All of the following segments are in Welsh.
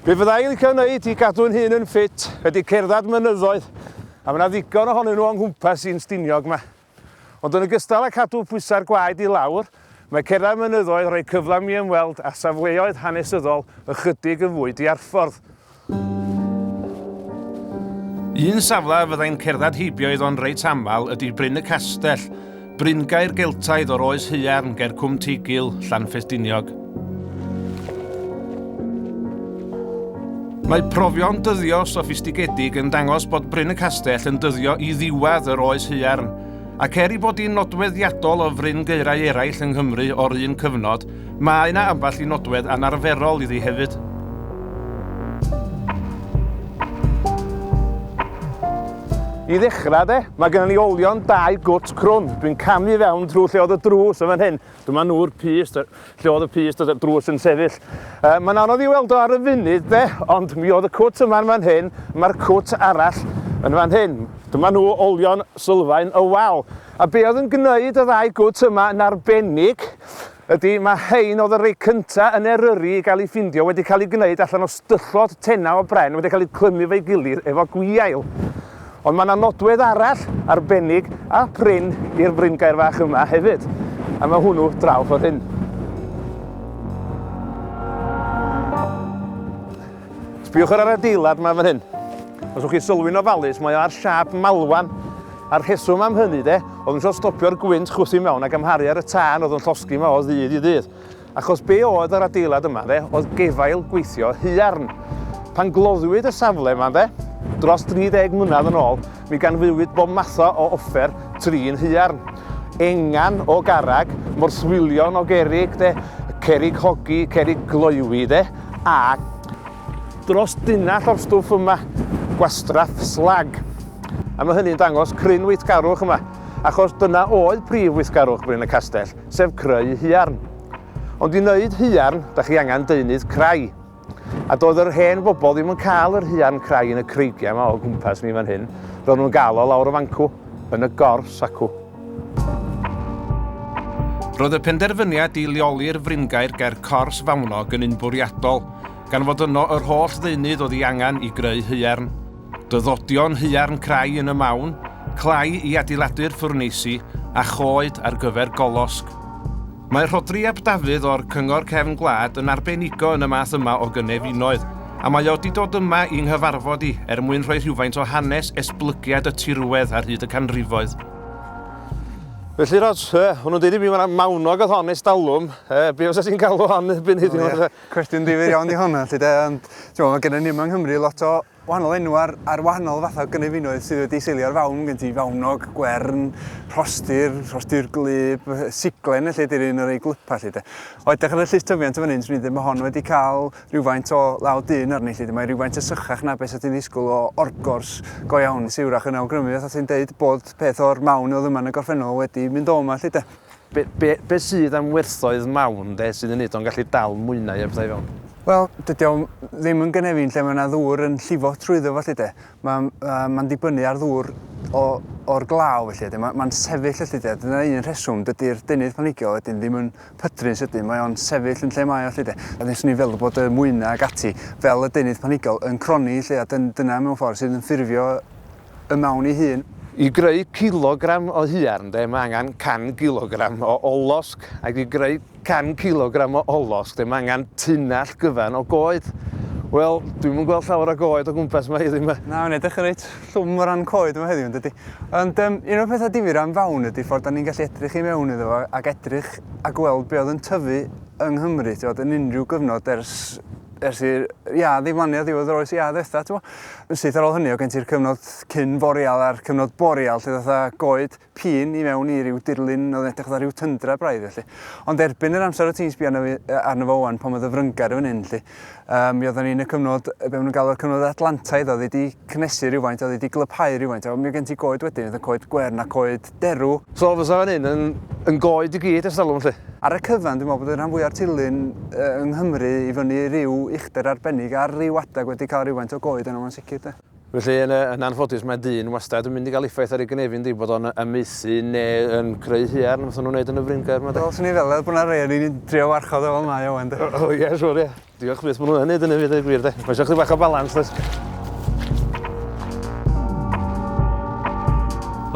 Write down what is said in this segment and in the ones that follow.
Be fydda i'n licio wneud i gadw'n hun yn ffit ydy cerdded mynyddoedd, a mae yna ddigon ohonyn nhw o'n nghwmpas i'n Stiniog 'ma. Ond yn ogystal â cadw pwysau'r gwaed i lawr, mae cerdded mynyddoedd rhoi cyfle i mi ymweld â safleoedd hanesyddol ychydig yn fwy diarffordd. Un safle fyddai'n cerdded heibio iddo yn reit aml ydy Bryn y Castell, bryngaer Geltaidd o'r oes haearn ger Cwm Teigil, Llanfestiniog. Mae profion dyddio soffistigedig yn dangos bod Bryn y Castell yn dyddio i ddiwedd yr oes haearn, ac er ei bod hi'n nodweddiadol o fryn geirau eraill yng Nghymru o'r un cyfnod, Mae yna ambell i nodwedd anarferol iddi hefyd. I ddechrau de, mae gennym ni olion dau gwt crwn. Dwi'n camu fewn drwy lle oedd y drws yn fan hyn. Dyma nhw'r pyst, lle oedd y pyst oedd y drws yn sefyll. Uh, mae'n anodd i weld o ar y funud de, ond mi oedd y cwt yma'n fan hyn, mae'r cwt arall yn fan hyn. Dyma nhw olion sylfaen y wal. A be oedd yn gwneud y ddau gwt yma yn arbennig Ydy, mae rhain oedd y rhai cyntaf yn Eryri i gael eu ffindio wedi cael eu gwneud allan o styllod tenau o bren wedi cael eu clymu efo'i gilydd efo gwiail. Ond mae yna nodwedd arall arbennig a prin i'r fryngaer fach yma hefyd, a mae hwnnw draw ffordd hyn. Sbïwch ar yr adeilad 'ma fan hyn. Os wnewch chi sylwi'n ofalus, mae o ar siâp malwan. A'r rheswm am hynny de, oedd yn trio stopio'r gwynt chwythu mewn a gymharu ar y tân oedd yn llosgi yma o ddydd i ddydd. Achos be oedd yr adeilad yma de, oedd gefail gweithio huarn. Pan gloddwyd y safle yma de, dros 30 mlynedd yn ôl, Mi ganfuwyd bob matha o offer trin haearn. Engan o garreg, morswilion o gerrig de, cerrig hogi, cerrig gloywi de, a. Dros dunall o'r stwff yma, gwastraff slag. A mae hynny'n dangos cryn weithgarwch yma, achos dyna oedd prif weithgarwch Bryn y Castell, sef creu haearn. Ond i wneud haearn, da chi angen deunydd crai. A doedd yr hen bobl ddim yn cael yr huan crai yn y creigiau yma o gwmpas ni fan hyn, ro'n nhw'n gael o lawr y fancw, yn y gors acw. Roedd y penderfyniad i leoli'r fringaer ger cors Fawnog yn un bwriadol, gan fod yno yr holl ddeunydd oedd ei angen i greu haearn. Dyddodion haearn crai yn y mawn, clai i adeiladu'r ffwrneisi, a choed ar gyfer golosg. Mae Rhodri ap Dafydd o'r Cyngor Cefn Gwlad yn arbenigo yn y math yma o gynefinoedd, a mae o di dod yma i'n nghyfarfod i er mwyn rhoi rhywfaint o hanes esblygiad y tirwedd ar hyd y canrifoedd. Felly Rhod, yy, o'n nhw'n deud i mi fan'na mawnog oedd hon nes dalwm, yy, be os ti'n galw hon erbyn heddiw? Ie, cwestiwn difyr iawn di hwn, felly de, ond t'mo' ma' gennym ni yma yng Nghymru lot o wahanol enw ar, ar wahanol fathau o gynefinoedd sydd wedi seilio ar fawn, gen ti fawnog, gwern, rhostir, rhostir glyb, siglen lle di'r un o'r ei glypa lle de. O edrych ar y llys tyfiant yn fan hyn, swn i'n dweud mae hon wedi cael rhywfaint o law dyn arni lle de. Mae rhywfaint y sychach na beth o ti'n ddisgwyl o orgors go iawn sy'n wrach yn awgrymu fath o ti'n dweud bod peth o'r mawn o ddyman y gorffennol wedi mynd o yma lle de. Be, be, be sydd am werthoedd mawn de sydd yn neud o'n gallu dal mwynau a pethau fewn? Wel, dydy o ddim yn gynefin lle mae yna ddŵr yn llifo trwyddo felly de. Mae'n ma dibynnu ar ddŵr o'r glaw felly de. Mae'n ma sefyll felly de. Dyna un rheswm, dydy'r deunydd planigiol wedyn ddim yn pydru'n sydyn. Mae o'n sefyll yn lle mae felly de. A ddyn ni'n feddwl bod y mwyna ag ati fel y deunydd planigiol yn croni lle a dyn, dyna mewn ffordd sydd yn ffurfio y mawn ei hun. I greu cilogram o huarn de, mae angen 100 cilogram o olosg, ac i greu 100 cilogram o olosg de, mae angen tunnell gyfan o goed. Wel, dwi'm yn gweld llawer o goed o gwmpas yma heddiw yma. Na, mae'n edrych yn reit llwm o ran coed yma heddiw, dydy. Ond um, un o'r pethau difyr am fawn ydy ffordd da ni'n gallu edrych i mewn iddo fo ac edrych a gweld be oedd yn tyfu yng Nghymru, ti'n yn unrhyw gyfnod ers ers i'r iad i flannu a ddiwedd yr oes iad eitha, ti'n Syth ar ôl hynny oedd gen ti'r cyfnod cyn boreal a'r cyfnod boreal lle ddatha goed pîn i mewn i ryw dirlun oedd yn edrych fatha rhyw tyndra braidd felly. Ond erbyn yr amser o ti'n sbio arno, arno fo wan pan oedd y frynggar yn fan hyn felly, um, mi oedden ni'n y cyfnod, be maen nhw'n galw'r cyfnod Atlantaidd oedd wedi cynnesu rhywfaint, oedd wedi glyphau rhywfaint, a mi oedd gen ti goed wedyn, oedd y coed gwern a coed derw. So fysa fan hyn yn yn goed i gyd ers talwm 'lly? Ar y cyfan dwi'n meddwl bod y rhan fwya'r tirlun yng Nghymru i fyny ryw uchder arbennig ar ryw adeg wedi cael rywfaint o goed arno fo'n sicr 'de. Felly yn yn anffodus mae dyn wastad yn mynd i gael effaith ar ei gynefin yndi bod o'n amaethu neu yn creu haearn fatha nhw'n neud yn y Fryn Gaer 'ma 'de? Wel swn i'n fel er bod 'na rei o'n i'n trio warchod o fel mae o ŵan 'de. O ie siŵr ie. Diolch byth, maen nhw'n hynny dyn nhw fyd y gwir de. Mae eisiau chdi bach o balans does.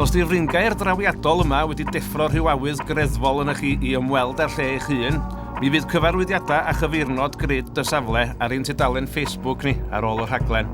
Os di'r fringaer drawiadol yma wedi deffro rhyw awydd greddfol yn chi i ymweld â'r lle eich hun, mi fydd cyfarwyddiadau a chyfeirnod grid y safle ar ein tudalen Facebook ni ar ôl y rhaglen.